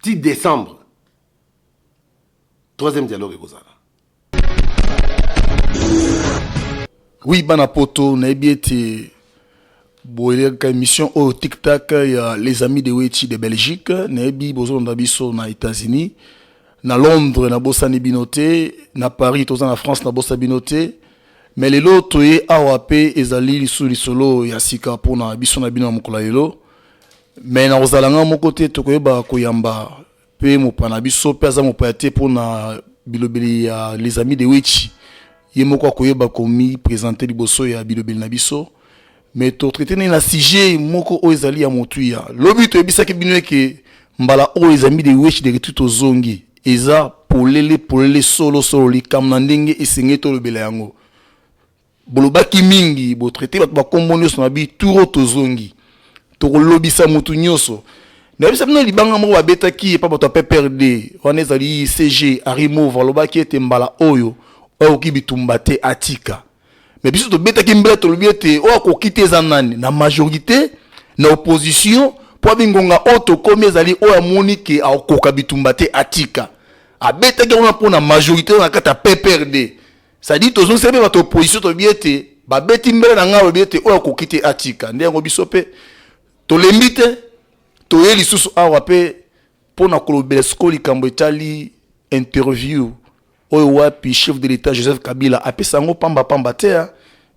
ti décembre troisième dialogue ekozala oui bana poto nayebi ete boyelaka émission oyo tiktak ya les amis de wechi de belgique nayebi bozolanda biso na états-unis na londres nabosani bino te na paris toza na france nabosa bino te me lelo toye awa mpe ezali lisusu lisolo ya sika mpona biso na bino ya mokolo ya lelo me nakozala ngai moko te tokoyeba koyamba mpe mopa na biso mpe aza mopaya te mpo na bilobeli ya les amis de wechi ye moko akoyeba komipresente liboso ya bilobeli na biso me totraite nde na sujet moko oyo ezali ya motuya lobi toyebisaki bino eke mbala oyo les amis de wechi de retour tozongi eza polele polele solo solo likambo na ndenge esengeli tolobela yango Bolobaki mingi, bo traiter bato ba kombo nioso na bi turo tozongi. Tokolobisa mutu nioso. Nayebisa bino libanga moko babetaki epa bato ya PPRD wana ezali CG Harry Mauve alobaki ete mbala oyo oyo akoki bitumba te atika. Mais biso tobetaki mbela tolobi ete oyo akoki te eza nani na majorite na opposition mpo abi ngonga oyo tokomi ezali oyo amoni ke akokoka bitumba te atika. Abetaki yango wana mpo na majorite na kati ya PPRD. Ça dit tozo sebe ba to position to biete ba beti mbele na ngalo biete oyo akoki te atika nde yango biso pe tolembi te toye lisusu awa pe mpo na kolobela sikoyo likambo etali interview oyo wapi chef de l'état joseph kabila apesa yango pamba pamba te ah.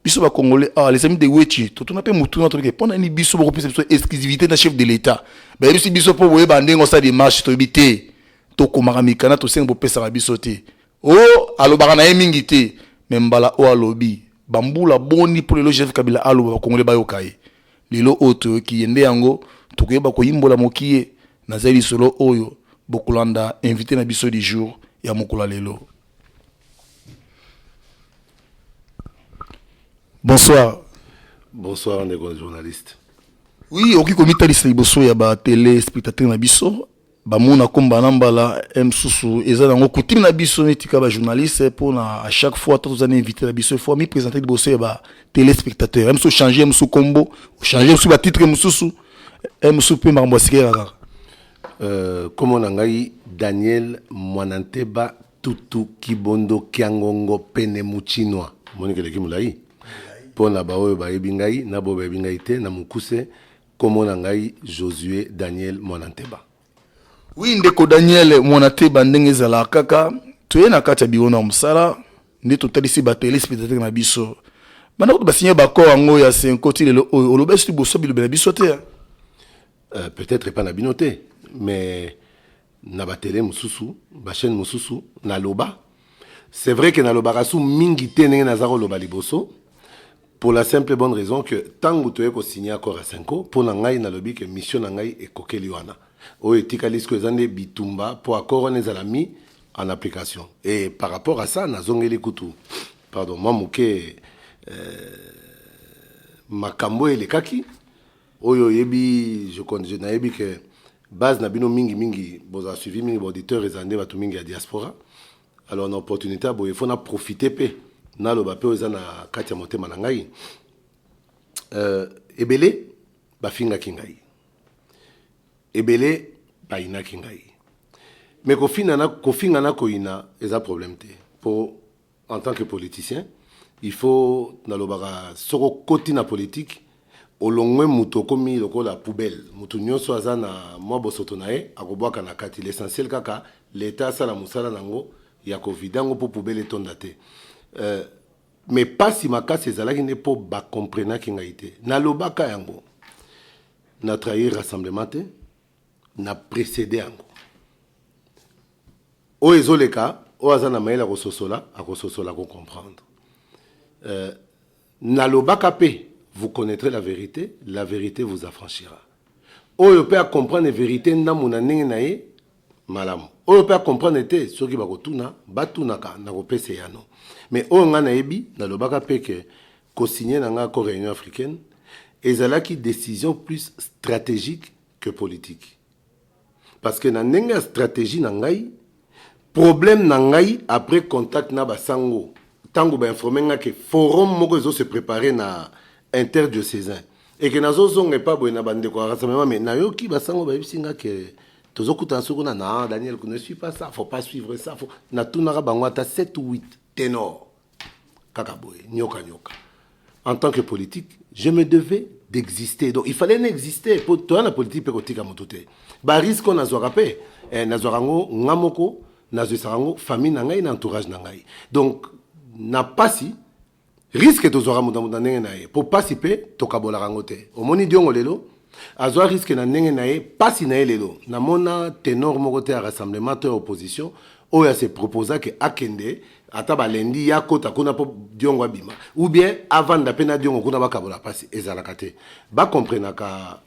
biso bakongole ah, les amis de wechi totuna mpe motuna toleke mpo na nini biso bokopesa biso exclusivité na chef de l'état bayebisi biso mpo boyeba ndenge osala demarche toyebi te tokomaka mikanda tosengi bopesaka biso te Oh, alobaka na ye mingi te, mais mbala oyo alobi. Bambula boni mpo lelo Joseph Kabila aloba bakongole bayoka ye? Lelo oyo toyoki ye nde yango tokoyeba koyimbola mokie na zali lisolo oyo bokolanda invite na biso du jour ya mokolo ya lelo. Bonsoir. Bonsoir ndeko journaliste. Oui, okoki komitalisa liboso ya ba tele spectateur na biso bamona ko mbala na mbala eh, mosusu eza nango kutime na biso neti kaka bajournaliste eh, mpona à chaque fois to toza na invité na biso ifo amipresente liboso ya batelespectateur mosusu ochange mosusu nkombo ochange mosusu batitre mosusu eh, mosusu mpe makambo ya sikela kaka nkombo na ngai daniel mwananteba tutu kibondo kiangongo pene muchinwa monikeleki molai mpo na baoyo bayebi ngai na baoyo bayebi ngai te na mokuse Kombo na ngai Josue Daniel Mwananteba. Oui ndeko Daniel Mwanateba, ndenge ezalaka kaka toye na kati ya biro na mosala nde totalisi ba telespectateur na biso banda kutu basigne baccord yango ya senko ti lelo oyo olobesi liboso bilobela biso te euh, peut-être epa na bino te mais na batele mosusu bachaîne mosusu naloba C'est vrai que nalobaka su mingi te ndenge naza koloba liboso pour la simple bonne raison que tango toye ko signer accord ya Senko mpo na ngai nalobi que mission na ngai ekokeli wana oyo etikali siko eza nde bitumba mpo accord wana ezala mi en application et par rapport à ça nazongeli kutu pardon mwa moke euh, makambo elekaki Oyo oyebi je compte je nayebi que base na bino mingi mingi bozala suivi mingi baauditeur ezala nde bato mingi ya diaspora alors na opportunité ya boye fo na profite mpe naloba mpe oyo eza na kati ya motema na ngai euh, ebele bafingaki ngai ebele bayinaki ngai me kofinga na koyina eza problème te mpo En tant que politicien, il faut nalobaka soki okoti na politique olongwe moto okomi lokola poubelle moto nyonso aza na mwa bosoto na ye akobwaka na kati l'essentiel kaka leta asala mosala na yango ya kovide yango mpo poubelle etonda te euh, me mpasi makasi ezalaki nde mpo bakomprenaki ngai te nalobaka yango na trahir rassemblement te na précédé yango Oyo ezo leka oyo aza na mayele ya ko sosola ako sosola ako comprendre euh na lobaka pe vous connaitrez la verite la verite vous affranchira oyo pe a comprendre verite ndambu na ndenge na ye malamu oyo pe a comprendre te soki bako tuna ba tunaka na ko pesa eyano mais oyo nga na yebi na lobaka pe que ko signer na nga accord ya Union africaine ezalaki decision plus strategique que politique parce que na ndenge ya stratégie na ngai problème na ngai après contact na basango ntango bainforme nga ke forum moko ezo se préparer na interdiocesain eke nazozonga epa boye na bandeko ya rassemblement mais nayoki basango bayebisi nga ke tozokutana soki kuna na daniel ne suis pas ça faut pas suivre ça faut natunaka bango ata 7 ou 8 tenor kaka boye nyoka nyoka en tant que politique je me devais d'exister donc il fallait n'exister mpo toya na politique mpe kotika moto te bariske oyo nazwaka mpe eh, nazwaka yango nga moko nazwisaka yango famille na ngai na entourage na ngai donc na mpasi riske tozwaka moto na moto na ndenge na ye mpo mpasi mpe tokabolaka yango te omoni diongo lelo azwa risque na ndenge na ye pasi na ye lelo namona tenor moko te ya rassemblement to ya opposition oyo ase proposa ke akende ata balendi ya kota kuna mpo diongo abima ou bien avanda mpe na diongo kuna bakabola pasi ezalaka te bacomprenaka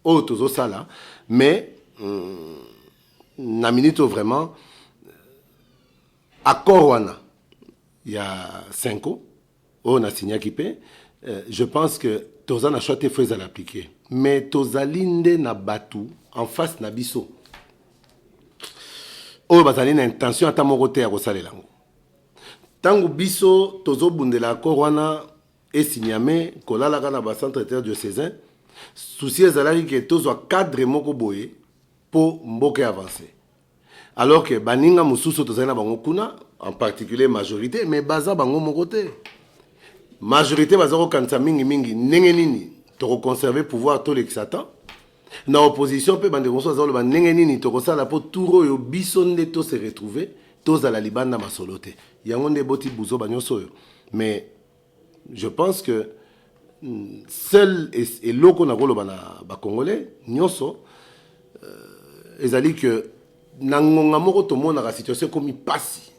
oyo tozosala mais mm, na minute oyo vraiment accord wana ya cinco oyo na signaki mpe je pense que toza na choix te faut ezala appliquer mais tozali nde na bato en face na biso oyo bazali na intention ata moko te ya kosalela yango ntango biso tozobundela accord wana esinyame kolalaka na bacentre eter diocesain souci ezalaki ke tozwa cadre moko boye mpo mboka avance Alors que baninga mosusu tozali na bango kuna en particulier majorité mais baza bango moko te majorité baza kokanisa mingimingi ndenge nini tokoconserve pouvoir tolekisa temps na opposition mpe bandeko mosusu azaloba ndenge nini tokosala mpo tour oyo biso nde to se retrouve tozala libanda masolo te yango nde eboti buzoba nyonso oyo mais je pense que hmm, seul eloko nakoloba na bacongolais nyonso euh, ezali que na ngonga moko tomonaka situation ekomi mpasi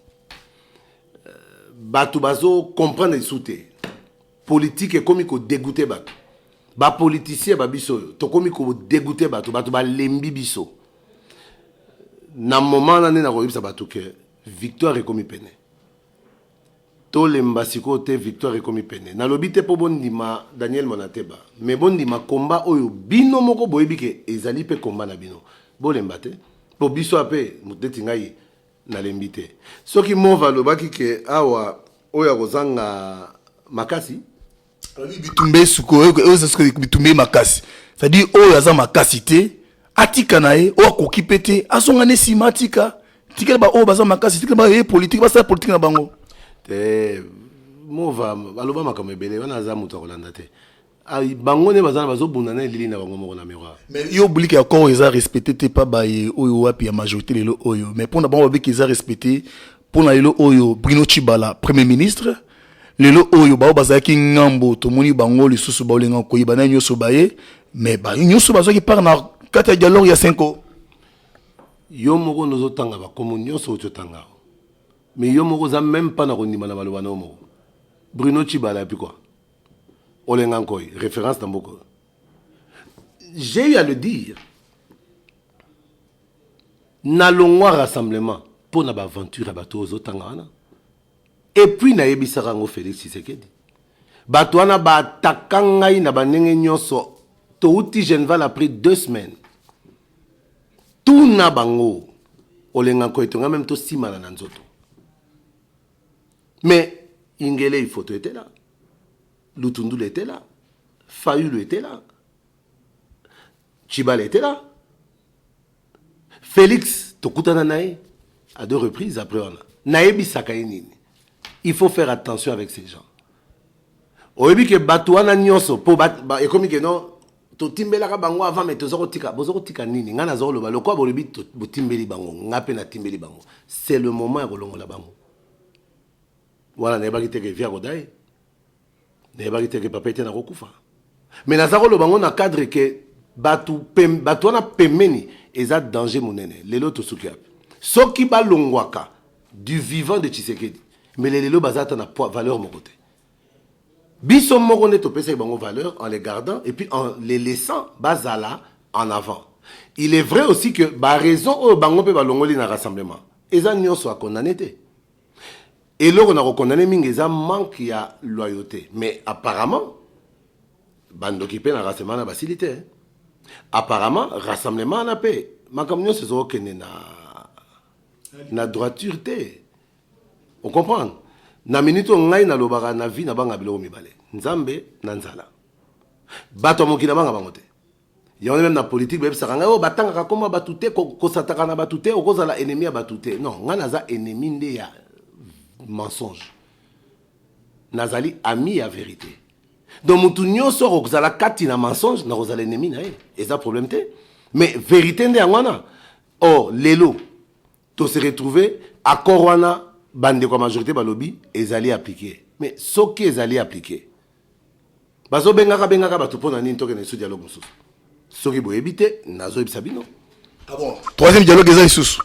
euh, bato bazocomprendre lisusu te politike ekomi kodegoute bato bapolitisien ba biso oyo tokomi kodegoute bato bato balembi biso na moment wana nde nakoyebisa bato ke victoire ekomi pene Tolemba sikoyo te victoire ekomi pene. Nalobi te po bondima Daniel Monateba mais bondima combat oyo bino moko boyebi ke ezali pe combat na bino. Bolemba te po biso ape mutu neti ngai nalembi te. Soki Mova alobaki ke awa oyo akozanga makasi. bitumba esuka oyo eza suka bitumba ye makasi c'est-à-dire oyo aza makasi te atika na ye oyo akoki mpe te azonga ne nsima atika tikela baoyo baza makasi tikela baoyo ye politike basala politike na bango te mova aloba makambo ebele wana aza moto ya kolanda te ah, bango nde baza bazobunda na elili na bango moko na miroir mais yo oblike ya koo eza respecte te pa baye oyo wapi ya majorité lelo oyo mais mpo na bango babiki eza respecte mpo na lelo oyo brino chibala premier ministre Lelo oyo baoyo bazalaki ngambo tomoni bango lisusu baolinga koyeba na nyonso baye mais ba nyonso bazwaki part na kati ya dialogue ya senko yo moko nde ozotanga bakomo nyonso outi otanga yango mais yo moko oza meme mpa na kondima na maloba na yo moko bruno chibala yapi kua olenga nkoi référence na mboka j'ai eu à le dire nalongwa rassemblement mpo na baaventure ya bato oyo ozotanga wana Et puis nayebisaka yango Felix Tshisekedi. Bato wana ba attaka ngai na bandenge nyonso. Touti Genval après deux semaines. Tuna bango olenga nkoyeto ngai meme tosimana na nzoto. Mais Ingele ifoto était là. Lutundul était là. Fayulu était là. Chibal était là. Felix tokutana na ye à deux reprises après wana nayebisaka ye nini il faut faire attention avec ces gens oyebi ke bato wana nyonso mpo ekomi ke non totimbelaka bango avant mai toza kotika boza kotika nini ngai naza koloba lokola bolobi botimbeli bango ngai mpe natimbeli bango c'est le moment ya kolongola bango wana nayebaki te ke via kodai nayebaki te ke papa ete nakokufa me naza koloba yango na cadre ke bato bato wana pembeni eza danger monene lelo tosuki yapi soki balongwaka du vivant de tshisekedi mbele lelo baza ata na poids valeur moko te biso moko nde topesaki bango valeur en les gardant et puis en les laissant bazala en avant il est vrai aussi que baraison oyo bango mpe balongoli na rassemblement eza nyonso akondane te Eloko na ko condamner mingi eza manque ya loyaute mais apparemment ba ndoki pe na rassemblement na basili te apparemment rassemblement na pe makambo nyonso ezo kende na na droiture te o comprendre na minute oyo ngai nalobaka na vie na banga biloko mibale nzambe na nzala bato ya mokili na banga bango te yango meme na politike bayebisaka ngai oyo oh, batangaka koma bato te kosataka na bato te okozala ennemi ya bato te non ngai naza ennemi nde ya mensonge nazali ami ya verité donc motu nyonso okozala kati na mensonge nakozala ennemi na ye eza problème te mais verité nde yango wana or oh, lelo To se retrouver accord wana bandeko ya majorite balobi ezali applique mais soki ezali applique bazobengaka bengaka bato mpo na nini tokende lisusu dialogue mosusu soki boyebi te nazoyebisa bino ah troisième dialogue eza lisusu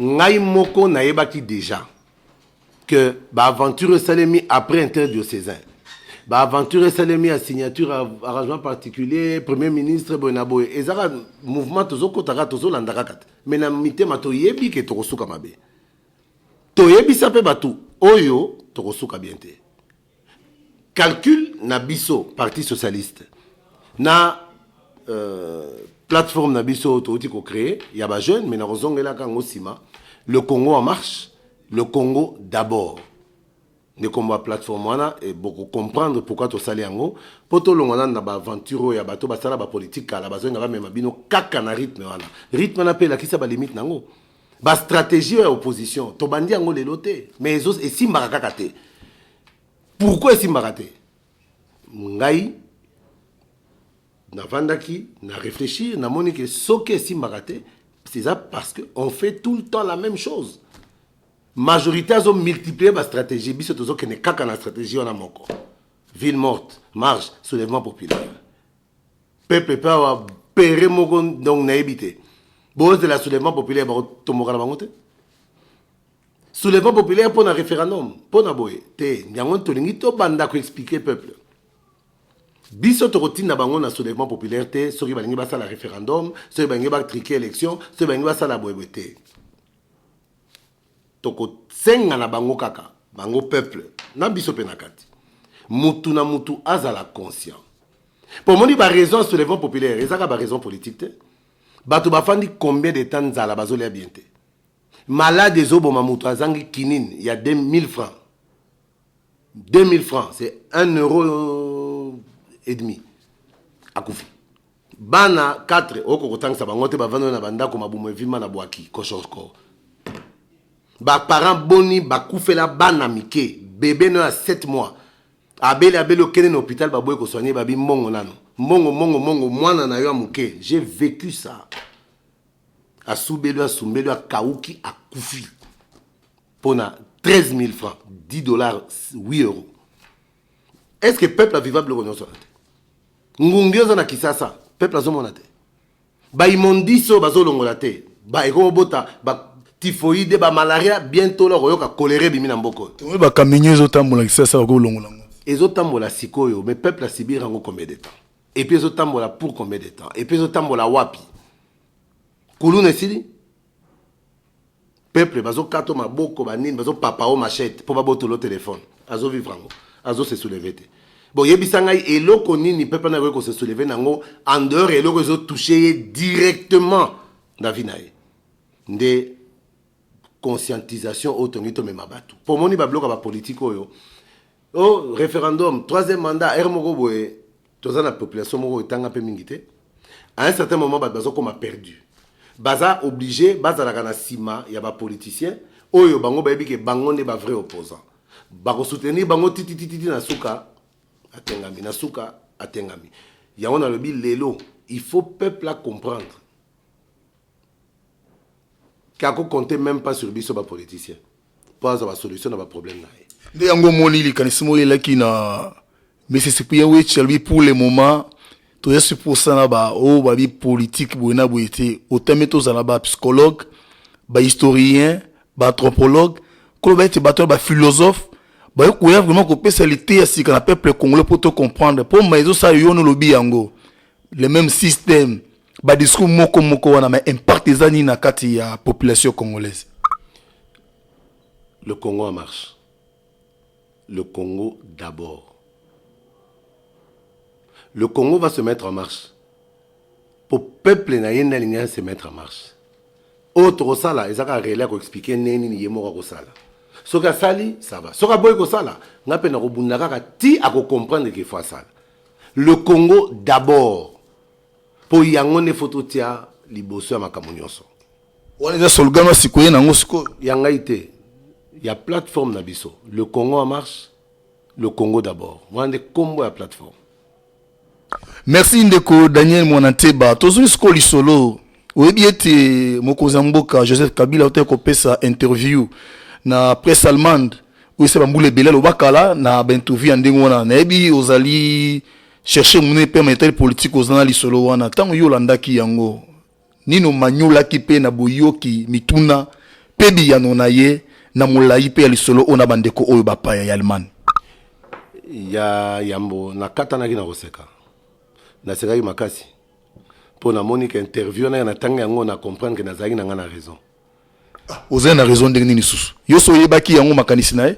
ngai moko nayebaki deja que ba aventure esalemi après interdiocesain ba aventure esalemi ya signature arrangement particulier premier ministre boye na boye ezaka mouvement tozokota kaka tozolanda kaka te mais na mitema toyebi ke tokosuka mabe toyebisa mpe bato oyo tokosuka bien te calcul na biso parti socialiste na euh, plateforme na biso oyo touti kocree ya bajeune mai nakozongelaka yango nsima le congo en marche le congo d'abord nde nkombo ya plateforme wana e, bokocomprendre pourkui tosali yango mpo tolongwa nanu na baaventure oyo ya bato basala bapolitike kala bazonga bamema bino kaka na rythme wana rythme wana mpe elakisa balimite na yango ba stratégie ya opposition tobandi yango lelo te mais ezo esimbaka kaka te pourquoi esimbaka te ngai navandaki na réfléchir namoni ke soki esimbaka te c'est ça parce que on fait tout le temps la même chose majorité azo multiplier ba stratégie biso tozokende kaka na stratégie wana moko ville morte marche soulèvement populaire peuple pe awa pere moko donc nayebi te bozela soulèvement populaire bakotomboka na bango te soulèvement populaire mpo na référendum mpo na boye te yango tolingi tobanda koexplike peuple biso tokotinda bango na soulèvement populaire te soki balingi basala référendum soki balingi batrike élection soki balingi basala boyeboye te Toko senga na bango kaka bango peuple na biso pe na kati mutu na mutu azala conscient po omoni ba raison ya soulèvement populaire eza kaka ba raison politique te bato bafandi combien de temps nzala bazolia bien te malade ezoboma moto azangi kinini ya 2000 francs 2000 francs c'est 1 euro et demi akufi Bana 4 oko kotangisa bango te bavandani na bandako mabumu evimba na bwaki koshoko. Ba parents boni bakufela bana mike bebe no ya 7 mois abeli abeli okende na hôpital baboyi kosoigne babi mbongo nano mbongo mbongo mbongo mwana na yo ya moke j'ai vécu ça asubeli asumbeli akauki akufi mpo na 13 000 francs 10 dollars 8 euros est ce que peuple aviva biloko nyonso wana te ngungi oza na kisasa peuple azomona te baimondise oyo bazolongola te baekobota ba typhoïde bamalaria bientôt la koyoka kolera ebimi na mboka oyo tomoni bakaminio ezotambola kisasa bakolongola yango ezotambola sikoyo mais peuple asibir yango combien de temps epuis ezotambola pour combien de temps epuis ezotambola wapi kuluna esili peuple bazo kato maboko ba nini bazo papa o machette po babotolo telephone azo vivre yango azo se soulever te boyebisa ngai eloko nini peuple na ko se soulever nango en dehors eloko ezo toucher ye directement na vie na ye nde conscientisation oyo tongi tomema bato mpo omoni babiloka bapolitike oyo o oh, référendum troisième mandat r moko boye toza na population moko etanga mpe mingi te à un certain moment bato bazokoma perdu baza oblige bazalaka na nsima ya bapoliticien oyo bango bayebi ke bango nde bavrai opposant bakosoutenir bango tititititi na suka atengami na suka atengami yango nalobi lelo il faut peuple a comprendre ke ako compte meme pas sur biso ba politicien mpo azwa ba solution na ba problème na ye nde yango omoni likanisi moko elaki na mississippi ya wechi alobi pour le moment toya suposana ba oyo oh, babi politique boye na boye te otame tozala ba psychologue ba historien ba anthropologue koloba ete bato ya ba philosophe bayo koya vraiment kopesa lite ya sika na peuple congolais mpo to comprendre mpo ma ezosala yo no lobi yango le même système ba discours moko moko wana mais impact eza nini na kati ya population congolaise le congo en marche le congo d'abord le congo va se mettre en marche po peuple na ye nde alingi se mettre en marche oyo tokosala eza kaka rele ya koexplike ndenge nini ye moko akosala soki asali sava soki aboyi kosala ngai mpe nakobunda kaka ti akocomprendre ke fo asala le congo d'abord mpo yango nde fo totia liboso ya makambo nyonso wana eza solgano asikoye nango sikoyo ya ngai te ya plateforme na biso le congo en marche le congo d'abord wana nde nkombo ya plateforme merci ndeko daniel mwana nteba tozwi sikoyo lisolo oyebi ete mokonzi ya mboka joseph kabila autaki kopesa interview na presse allemande oyo ese bambula ebele alobakala na bainterview ya ndenge wana nayebi ozali Cherchez monene pema etali politiki oza na lisolo wana ntango yo olandaki yango nini omanyolaki mpe na boyoki mituna mpe biyano na ye na molai mpe ya lisolo oyo na bandeko oyo bapaya ya Allemagne. Ya yambo nakatanaki na koseka, nasekaki makasi mpo namoni ke interview na ye natangi yango na comprendre ke nazalaki na ngai na raison. Ozali na raison ndenge nini lisusu? Yo so oyebaki yango makanisi na ye?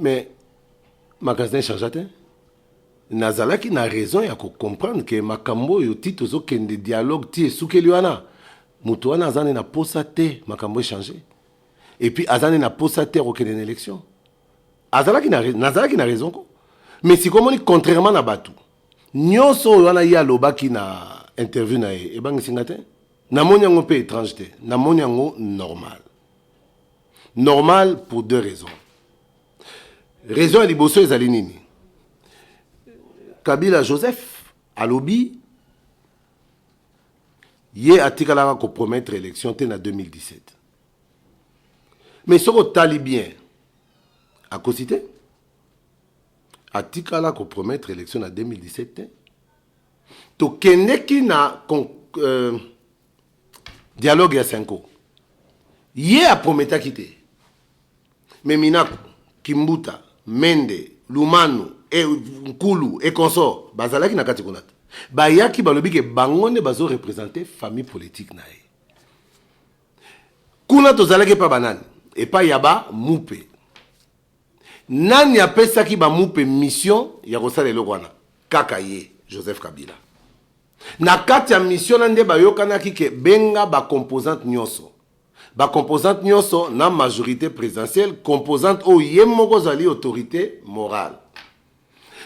Mais magasin echargea te nazalaki na raison ya kocomprendre ke makambo oyo ti tozokende dialogue ti esukeli wana moto wana aza nde na posa te makambo echange epuis aza nde na posa te ya kokende na élection azalaki nazalaki na raison ko mais sikomoni contrairement na bato nyonso oyo wana ye alobaki na interview na ye ebangisi nga te namoni yango mpe étrange te namoni yango normal normal pour deux raisons raison ya liboso ezali nini kabila joseph alobi ye atikalaka kopromettre élection te na 2017 mais soki otali bien akosi te atikala kopromettre élection na 2017 te tokendeki na euh, dialogue ya senko ye aprometaki te Mais Minaku, Kimbuta, Mende, Lumanu, et Nkulu et consort bazalaki na kati kuna te. Bayaki balobi ke bango nde bazo representer famille politique na ye. Kuna tozalaki epa banani? Epa ya ba mupe. Nani apesaki ba mupe mission ya kosala eloko wana? Kaka ye Joseph Kabila. Na kati ya mission na nde bayokanaki ke benga ba composante nyonso. Ba composantes nionso na majorite presidentielle, composante oyo ye moko azali autorite morale.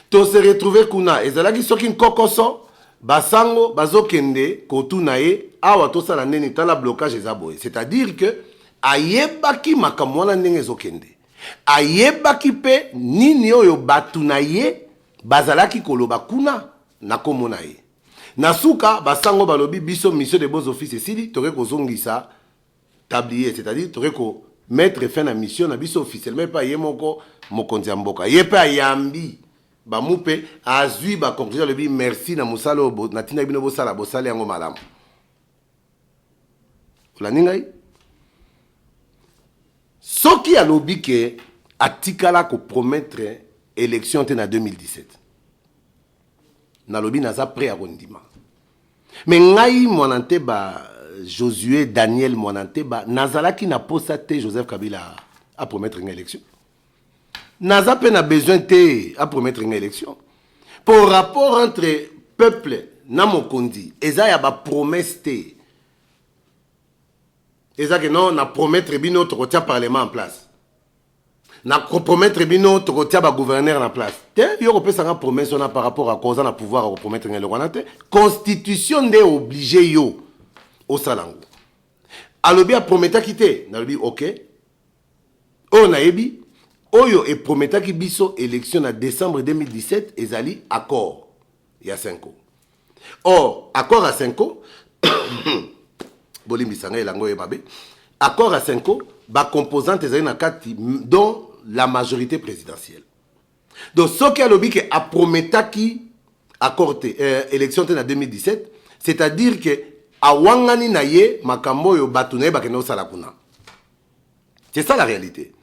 To se retrouver kuna, ezalaki soki nkokoso, ba sango bazo kende ko tuna ye awa to sala nini, tala blocage eza boye. C'est à dire que ayebaki makambo wana ndenge ezo kende. Ayebaki pe nini oyo batu na ye bazalaki koloba kuna na kombo na ye. Na suka, ba sango balobi biso mission de bons offices esili, toke kozongisa tablier, c'est-à-dire toke ko mettre fin na mission na biso officiellement epa ye moko mokonzi ya mboka. Ye pe ayambi ba mupe, azui ba conclusions, alobi merci na mosala oyo natindaki bino bosala, bosali yango malamu. Olandi ngai? Soki alobi ke atikala ko promettre election te na 2017 nalobi naza prêt ya kondima mais ngai mwana nteba josue daniel mwana nteba nazalaki na posa te joseph kabila apromettre nga élection naza mpe na besoin te apromettre nga élection mpo rapport entre peuple na mokonzi eza ya bapromesse te eza ke non na promettre bino tokotia parlement en place na compromettre bino tokotia ba gouverneur na place te yo kopesa nga promesse wana par rapport ako oza na pouvoir ya kopromettre nga eloko wana te constitution nde oblige yo osala yango alobi aprometaki te nalobi ok oyo nayebi oyo eprometaki biso élection na décembre 2017 ezali accord ya 5 or accord ya senko bolimbisa ngai elango ye mabe accord ya senko bacomposante ezali na kati dont la majorité présidentielle donc soki alobi ke aprometaki accord te euh, élection te na 2017 c'est-à-dire ke awangani na ye makambo oyo bato na ye bakende kosala kuna c'est ça la réalité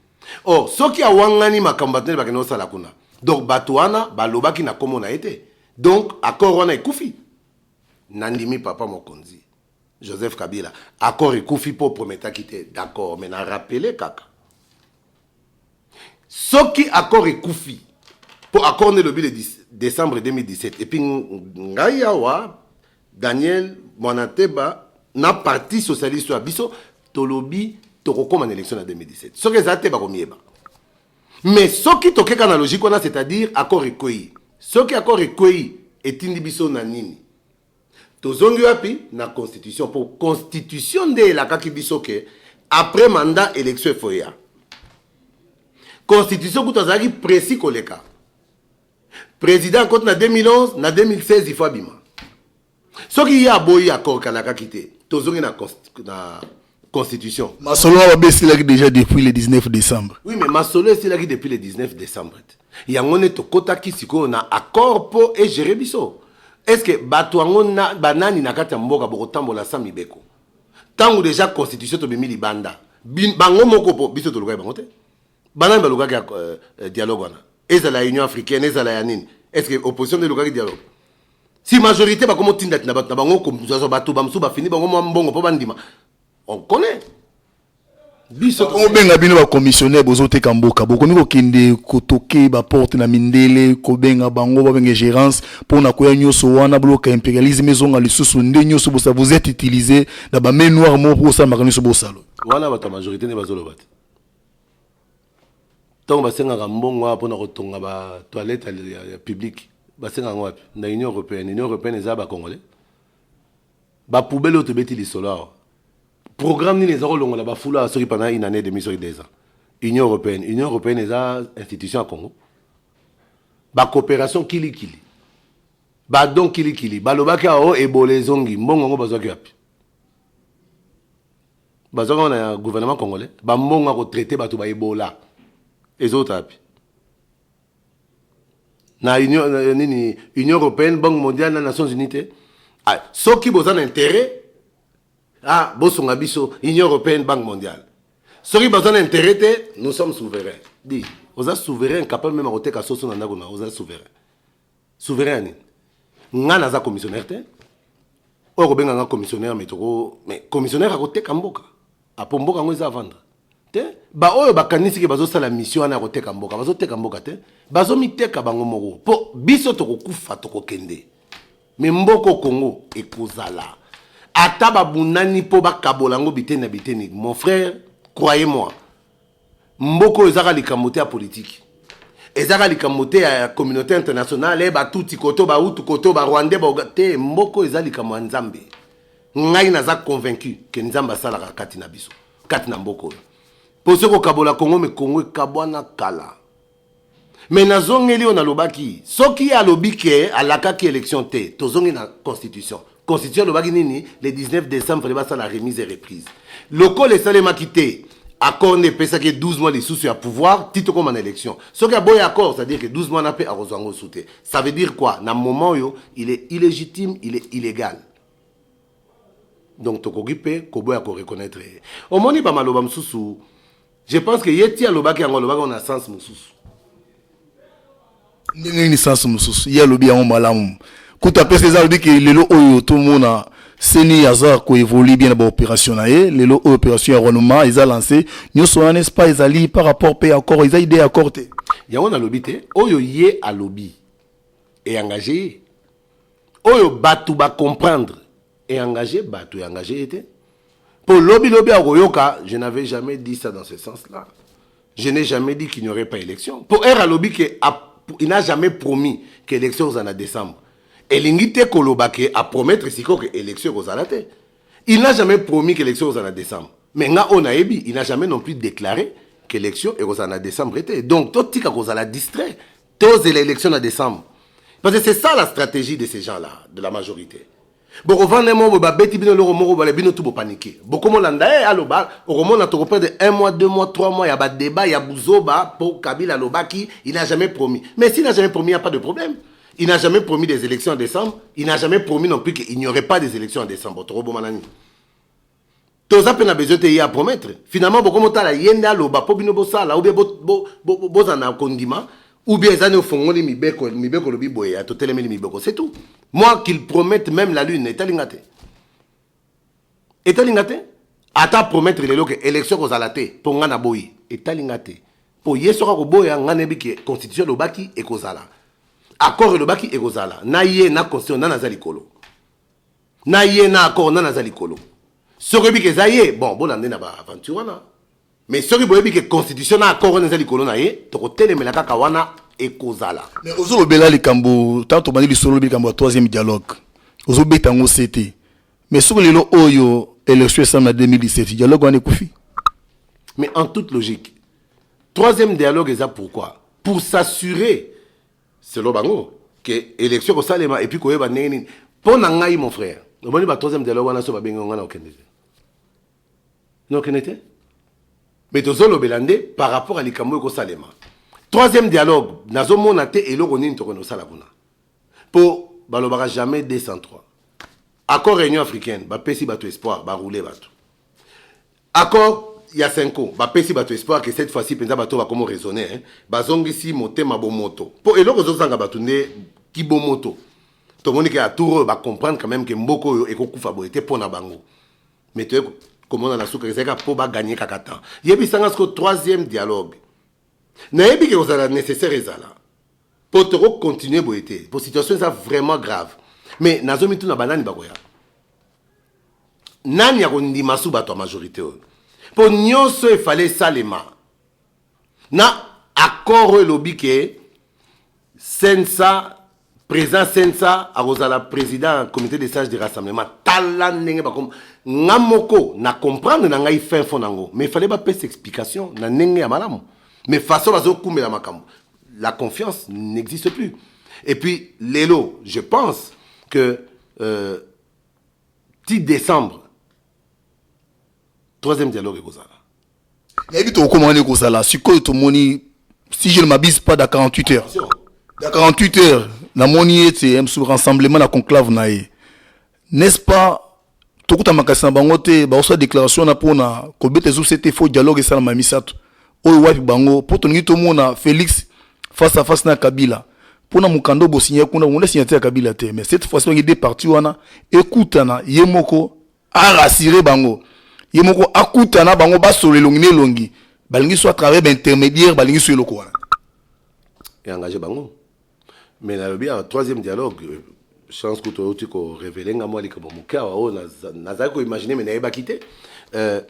or soki awangani makambo bato nde bakende kosala kuna donc bato wana balobaki na nkombo na ye te donc accord wana ekufi nandimi papa mokonzi joseph kabila accord ekufi mpo prometaki te d'accord mais na rappele kaka soki accord ekufi mpo accord nde elobi le 10 décembre 2017 epuis ngai awa Daniel mwana teba na parti socialiste ya biso tolobi tokokoma na election na 2017 soki eza te bakomiyeba mais soki tokeka na logique wana c'est-à-dire accord ekwei soki accord ekwei etindi biso na nini tozongi wapi na constitution mpo constitution nde elakaki biso ke après mandat election efoya constitution kutu azalaki précis koleka president akoti na 2011 na 2016 ifo abima soki ye aboyi accord kalakaki te tozongi na, na constitution masolo wana babe esilaki déjà depuis le 19 décembre oui mais masolo esilaki depuis le 19 décembre te yango nde tokotaki sikoyo na accord mpo egere biso est ce que bato yango banani na kati ya mboka bokotambola sa mibeko ntango déjà constitution tobimi libanda bango moko mpo biso tolukaki bango te banani balukaki ya euh, euh, dialogue wana ezala ya union africaine ezala ya nini est ce que opposition nde elukaki dialogue si majorité bakomi otindatina bato na bango kozwazwa bato bamosusu bafini bango mwa mbongo mpo bandima on connaît biso tobenga bino bacommissionnaire bozoteka mboka bokomi kokende kotoke baporte na mindele kobenga bango babenga gérance mpo na koya nyonso wana boloka impérialisme ezonga lisusu nde nyonso bosa vous êtes utilisé na bame noire moko mpo kosalamaka nyonso bosalo wana bato ya majorité nde bazoloba te ntango basengaka mbongo awa mpona kotonga ba toilette ya publique basengaka yango wapi na union européenne union européenne eza ba congolais ba poubelle oyo tobeti lisolo awa programme nini eza kolongola bafulu awa soki pendant une année demi soki deux ans union européenne union européenne eza institution ya congo bacoopération kilikili badon kilikili balobaki awa o oh, ebola ezongi mbongo yango bazwaki wapi Bazwaka wana ya gouvernement congolais ba mbongo ya ko traiter bato ba Ebola ezota wapi? na union euh, nini union européenne banque mondiale na nations unies te ah, soki boza na intérêt ah bosunga biso union européenne banque mondiale soki baza na intérêt te nous sommes souverain di oza souverain capable meme akoteka soso na ndako na oza souverain souverain ya nini nga naza commissionnaire te oyo kobenga nga commissionnaire me toko me commissionnaire akoteka mboka apo mboka yango eza avandre te baoyo bakanisi ke bazosala misio wana ya koteka mboka bazoteka mboka te bazomiteka bango moko mpo biso tokokufa tokokende me mboko congo ekozala ata babunani mpo bakabola yango biteni na biteni mon frère croyez moi mboka oyo ezaka likambo te ya politiki ezaka likambo te ya communauté internationale e eh, batuti koto bahutu koto barwandais baoga te mboka oyo eza likambo ya nzambe ngai naza convaincu ke nzambe asalaka kati na biso kati na mboka oyo mpo soki kokabola kongo me kongo ekabwana kala me nazongeli oyo nalobaki soki ye alobi ke alakaki élection te tozongi na constitution constitution elobaki nini le 19 décembre fale basala remise et reprise lokola esalemaki te accord nde epesaki ye 12 mois lisusu ya pouvoir ti tokóma na élection soki aboyi accord c'est-à-dire que 12 mois na mpe akozwa yango osu te ça veut dire quoi na moment oyo il est illégitime il est illégal donc tokoki mpe koboya koreconnaitre ye omoni bamaloba mosusu je pense que ye ti alobaki yango alobaki yango na sens mosusu ndenge nini sens mosusu ye alobi yango malamu kutu apesa eza alobi ke lelo oyo tomona seni aza koevoli bien na baopération na ye lelo oyo opération ya renouma eza lance nyonso wana n'est-ce pas ezali par rapport mpe accord eza idée ya accord te yango nalobi te oyo ye alobi eengage ye oyo bato ba comprendre et engage bato e engage ye te mpo lobi lobi akoyoka je n'avais jamais dit ça dans ce sens là je n'ai jamais dit qu'il n'y aurait pas élection mpo r alobi ke il n'a jamais promis que élection kozala na décembre elingi te koloba ke apromettre sikoyo ke élection ekozala te il n'a jamais promis que élection kozala na décembre mais nga oyo nayebi il n'a jamais non plus déclaré que élection ekozala na décembre te donc totika kozala distrait tozela élection na décembre parce que c'est ça la stratégie de ces gens là de la majorité bokovanda moko boye babeti bino eloko moko bale bino tu bopanike bokomolanda e eh, aloba okomona tokoperdre un mois deux mois trois mois ya badeba ya buzoba mpo kabila alobaki il n'a jamais promis mais s'il n'a jamais promis il n'y a pas de problème il n'a jamais promis des élections en décembre il n'a jamais promis non plus qu'il n'y aurait pas des élections en décembre tokoboma nani toza mpe na besoin te ye apromettre finalement bokomotala ye nde aloba mpo bino bosala oubien bozala bo, bo, bo, bo na kondima oubien eza nde ofongoli mibeko mibeko olobi boye ya totelemeli mibeko c'est tout moi qu'il promette même la lune etali nga te etali nga te ata promettre lelo ke élection ekozala te mpo nga naboyi etali nga te mpo ye soki akoboya nga nayebi ke constitution elobaki ekozala accord elobaki ekozala na ye na constitution nani aza likolo na ye na accord nani aza likolo soki oyebi ke eza ye bon bolanda ye na baaventure wana mais soki boyebi ke constitution na accord wana eza likolo na ye tokotelemela kaka wana ekozala mais ozolobela likambo ntango tobandi lisolo lobi likambo ya troisième dialogue ozobeta yango se te mais soki lelo oyo élection esami na 2017 dialogue wana ekufi mais en toute logique troisième dialogue eza pourquoi pour s'assurer selon bango ke election ekosalema epuis koyeba ndenge nini mpo na ngai mon frère omoni ba troisième dialogue wana so babengi yo ngai na okende te na okende te me tozolobela nde par rapport ya likambo oyo ekosalema troisième dialogue nazomona te eloko nini tokende kosala kuna mpo balobaka jamais 203 accord réunion africaine bapesi bato espoir baroule bato Accord ya cenco ba pesi batu espoir que cette fois ci penza batu ba komo raisonner hein ba zongisi motema bomoto po eloko ezo zanga batu nde ki bomoto to moni ke a tour oyo ba comprendre quand même que mboko oyo eko kufa boye te pona bango mais to komona na suka ezalaka po ba gagner kaka temps yebi sanga sko troisième dialogue na yebi ke kozala nécessaire ezala po to ko continuer boye te po situation eza vraiment grave mais nazo mituna banani bakoya nani akondima su bato ya majorité oyo mpo nyonso efale esalema na accord oyo elobi ke sensa président sensa akozala président ya comité de sage de rassemblement tala ndenge bakoma nga moko na comprendre na ngai fin fond nango mais fale bapesa explication na ndenge ya malamu mais façon bazokumbela makambo la confiance n'existe plus et puis lelo je pense que euh, ti decembre troisième dialogue ekozala nayebi tokokoma wana ekozala sikoyo tomoni si je ne m'abuse pas da 48 heures da 48 heures namoni ete msu rassemblement na conclave na ye n'est-ce pas tokuta makasi na bango te baosala déclaration wana mpona kobeta esusu ete fo dialogue esalama ya misato Oyo wapi bango po tolingi tomona Felix face à face na Kabila pona mokanda bosinya kuna bongo signature ya Kabila te mais cette fois-ci bangi deux parties wana ekutana ye moko a rassurer bango ye moko akutana bango basolo elongi na elongi balingi so à travers baintermédiaire balingi so eloko wana eengage bango mais nalobi awa troisième dialogue euh, chance kutu outi korevele nga mwa likambo moke awa oyo nazali koimagine me nayebaki te euh,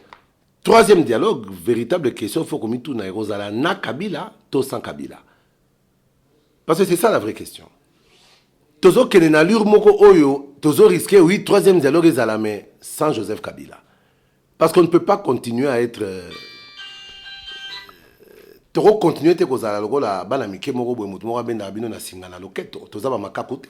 Troisième dialogue, véritable question, faut komituna ekozala na Kabila to sans Kabila. Parce que c'est ça la vraie question. Tozo kene na lure moko oyo, tozo risquer oui troisième dialogue ezala mais sans Joseph Kabila. Parce qu'on ne peut pas continuer à être euh, toko continuer te kozala lokola bana mike moko boye moto moko abendaka bino na singa na loketo toza bamakaku te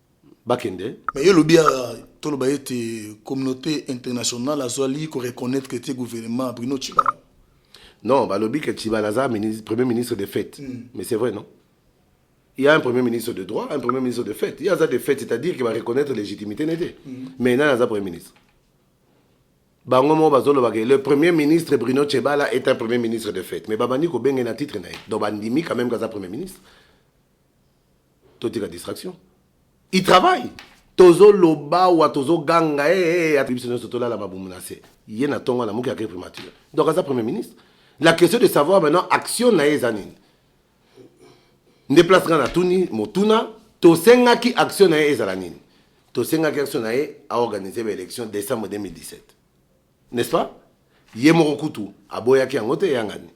bakende mais yo lobi toloba ete communauté internationale azwali ko reconnaître que te gouvernement Bruno Tshibala non balobi que Tshibala aza ministre, premier ministre de fête mm. mais c'est vrai non il y a un premier ministre de droit un premier ministre de fête il y a ça de fête c'est-à-dire qu'il va reconnaître légitimité n'était mm. mais nana aza premier ministre bango moko bazolobaka le premier ministre bruno chebala est un premier ministre de fête mais babandi kobenge na titre na ye donc bandimi quand même kaza premier ministre totika distraction il travaille tozoloba wa tozoganga eh, eh, eh, biso nyonso tolala mabumu na se ye na ntongo na moki akei primature donc aza premier ministre la question de savoir maintenant action na ye eza nini nde place ngai natuni motuna tosengaki action na ye ezala nini tosengaki action na ye aorganize baélection décembre 2017 n'est ce pas ye moko kutu aboyaki yango te eyangani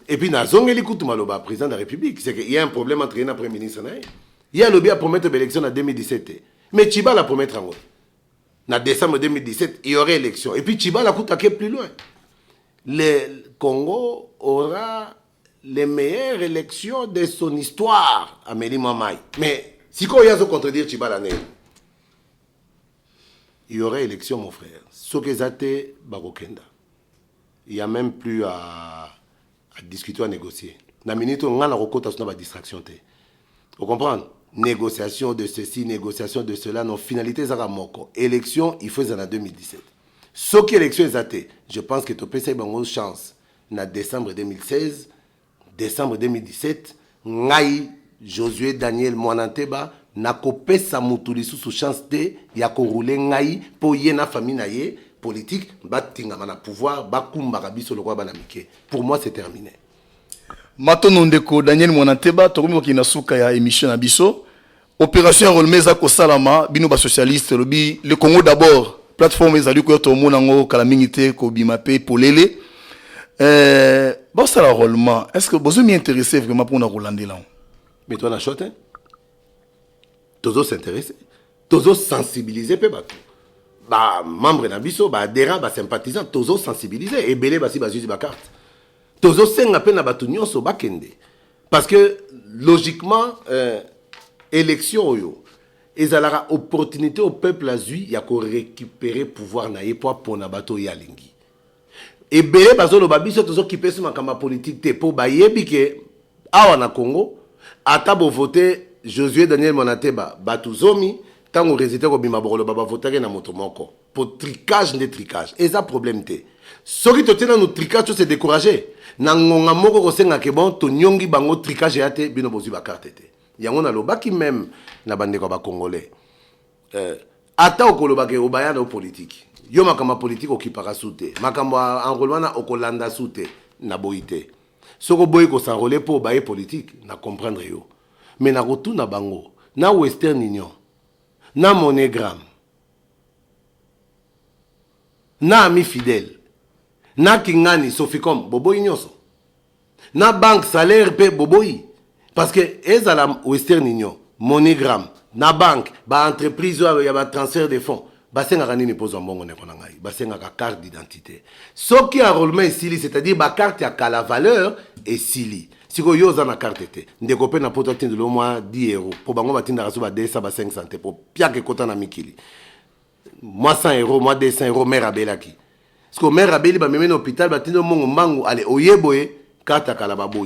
et puis nazongeli kutu maloba président de la république c'est que il y a un problème entre ye na premier ministre na ye ye alobi apromettre baélection na 2017 te mais chibala apromettre yango na décembre 2017 il y aurait élection et puis chibala kutu ake plus loin le congo aura les meilleures élections de son histoire ameli mwa mai mais sikoyo ye azocontredire chibala nini Il y aura election mon frère soki eza te bakokenda il y a même plus à, à discuter à négocier na minute oyo ngai nakokota so na badistraction te o comprendre négociation de ceci négociation de cela non finalité ezaka moko élection il faut ezala na 2017 soki élection eza te je pense que topesaki bango chance na décembre 2016 Decembre 2017, Ngai, Josue Daniel Muana Nteba, nakopesa mutu lisusu chance te ya ko rouler ngai mpo ye na famille na ye politique batingama na pouvoir, bakumbaka biso lokola bana mike. Pour moi, c'est termine. Matondo ndeko Daniel Muana Nteba, tokomi kokende na suka ya emission na biso. Operation ya Rolme eza kosalama bino ba socialiste lobi le Congo d'abord plateforme ezali koya tomona yango kala mingi te kobima pe polele euh, bosala rollement est ce que bozo mi intéressé vraiment mpona kolandela yango mais toi na chote tozo s'intéresse tozo sensibiliser mpe bato bamembre na biso baadhérent basympathisant tozo sensibiliser ebele basi bazuzi bacarte tozosenga mpe na bato nyonso bakende parce que logiquement euh, élection oyo ezalaka opportunité au peuple azwi ya korécupere pouvoir na ye mpo apona bato oyo ye alingi ebele bazoloba biso tozokipe so makambo ya politike te mpo bayebi ke awa na congo ata bovote josué daniel mwanateba bato zomi ntango résultat ekobima bokoloba bavotaki na moto moko po tricage nde tricage eza problème te soki totie nanu tricage tose décourage na ngonga moko kosenga ke bon tonyongi bango tricage ya te bino bozwi bakarte te yango nalobaki meme na bandeko ya bacongolais euh, ata okoloba ke obaya na yo politiki yo makambo ya politiki okipaka su te makambo ya enrole wana okolanda su te na boyi te soki oboyi kosanrole mpo obaye politiki na comprendre yo me nakotuna bango na western union na monogramme na ami fidèle na kingani soficom boboyi nyonso na banque salaire mpe boboyi parce que ezala western union monigram na banque ba entreprise oyo ya ba transfert de fonds basengaka nini mpo ozwa mbongo ndeko na ngai basengaka carte d'identité soki enrôlement esili c'est-à-dire bacarte ya kala valeur esili sikoyo yo oza na karte te ndeko mpe na poto atindeli yo mwa 10 euro mpo bango batindaka so ba 200 ba 500 te mpo piaka ekota na mikili mwa 100 euro mwa 200 euro mare abelaki sikoyo mare abeli bamemeni hôpital batindi yo mongo mbangu ale oye boye karte ya kala baboyi